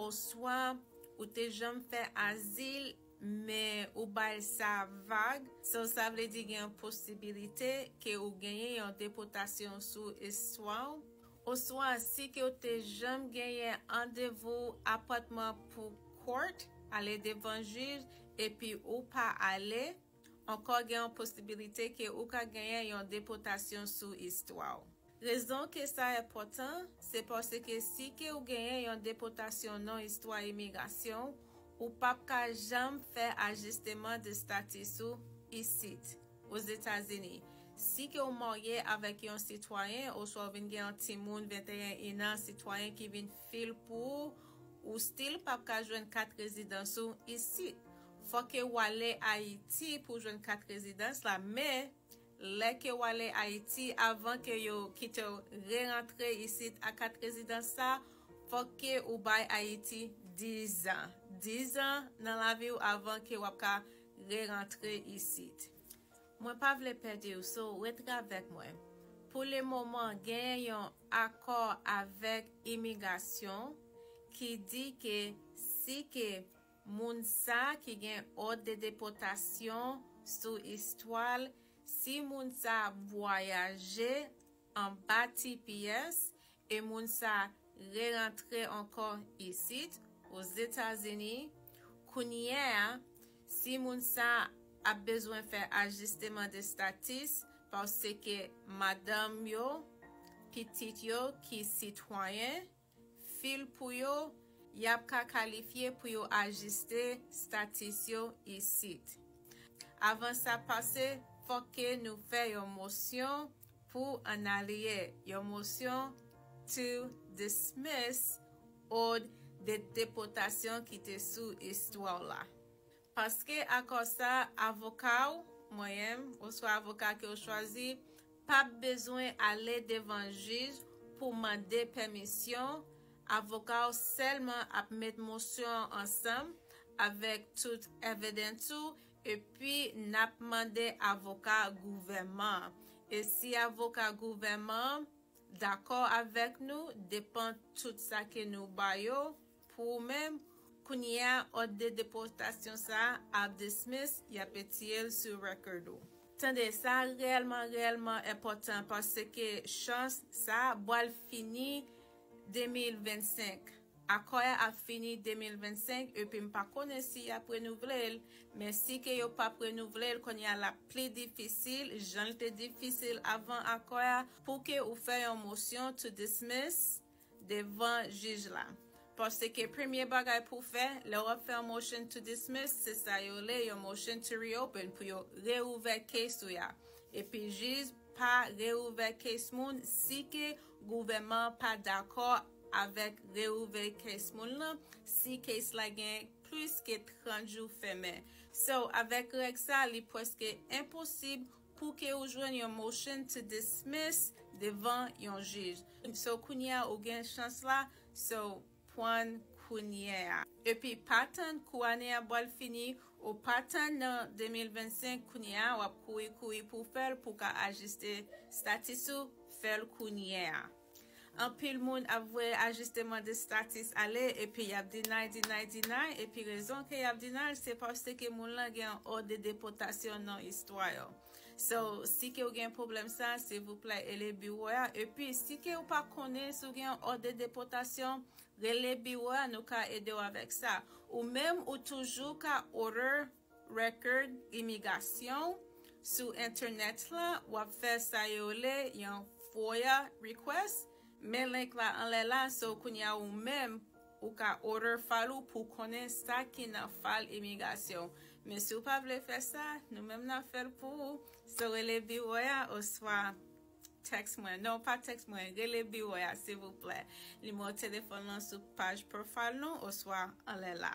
Oswa, ou te janm fè azil, men ou bay sa vag, so sa vle di gen yon posibilite ke ou genyen yon depotasyon sou istwa w. Oswa, si ke w te janm genyen andevou apòtman pou court, ale devan jij, epi ou pa ale. Ankò gen yon posibilite ke ou ka genyen yon depotasyon sou istwa w. Rezon ke sa enpòtan, se paske si ke ou genyen yon depotasyon non istwa imigrasyon w, ou pap ka janm fè ajisteman de status ou isit, Ozetazini, si ke ou marye avèk yon sitwayen oswa ou vin gen yon timoun 21 inan sitwayen ki vin fil pou ou, ou still pap ka jwenn kat rezidans ou isit. Fò ke ou ale Ayiti pou jwenn kat rezidans la, men lè ke ou ale Ayiti avan ke yo kitew re rantre isit ak kat rezidans sa, fòk ke ou bay Ayiti 10 an. 10 an nan laviw avan ke wap ka re rantre isit. Mwen pa vle pèdiw so retravèk mwen pou le moman genyen yon akò avèk imigasyon ki di ke si ke moun sa ki gen òd de depotasyon sou istwal si moun sa ap vwayaje anba tps E moun sa re rantre ankò isit Ozetazini, kounyè a si moun sa ap bezwen fè ajisteman de statis paske madanm yo, pitit yo ki sitwayen, fil pou yo, yap ka kalifye pou yo ajiste statis yo isit. Avan sa pase fòk ke nou fè yon mosyon pou analiye yon mosyon to dismiss od de depotasyon ki te sou istwa w la. Paske akò sa a avoka w, mwen menm, oswa avoka ke w chwazi, p ap bezwen ale devan jij pou mande pèmisyon, avoka w sèlman ap met mosyon an ansanm avèk tout evidence ou Epi nap mande avoka gouvèman an. E si avoka gouvèman an dakò avèk nou depan tout sa ke nou ba yo pou ou menm, kounye a òd de depòtasyon sa a ap dismiss, yap etiye l sou record ou. Tande, sa a reyèlman reyèlman enpòtan paske chans sa a bwal fini 2025. Akò ya ap fini 2025 epi m pa konnen si yap renouvle l, men si ke yo pap renouvle l kounye a lap pli difisil jan l te difisil avan akò ya pou ke ou fè yon mosyon to dismiss devan jij la paske premye bagay pou w fè lè wap fè yon motion to dismiss se sa yo rle yon motion to reopen pou yo reouvè case ou ya epi jij pa reouvè case moun si ke gouvèman pa dakò Avèk reouvè case moun lan, si case la gen plis ke 30 jou fèmen. So, avèk règ sa, li pwèske enposib pou ke ou jwenn yon motion to dismiss devan yon jij. So, kounyea ou gen chans la, so, pwann kounyea. Epi pa tann kou ane a bwal fini, ou pa tann nan 2025, kounyea wap kouri kouri pou fèl pou ka ajiste status ou, fèl kounyea. Anpil moun ap voye ajisteman de status ale epi yap deny, deny, deny epi rezon ke yap deny l se paske moun lan gen yon ord de depotasyon nan istwa yo. So, si ke ou gen pwoblem sa silvouplè ele biwo a epi si ke ou pa konnen si ou gen yon ord de depotasyon rele biwo a nou ka ede w avek sa. Ou menm ou toujou ka order. record imigasyon w sou entènèt la wap fè sa yo rele yon FOIA request men link la anlè la so kounya ou menm ou ka order file ou pou konnen sa ki nan file imigasyon w men si w pa vle fè sa nou menm nap fè l pou ou so rele biwo a oswa text mwen non pa text mwen rele biwo a silvouplè nimewo telefòn lan sou paj profile nou oswa anlè la.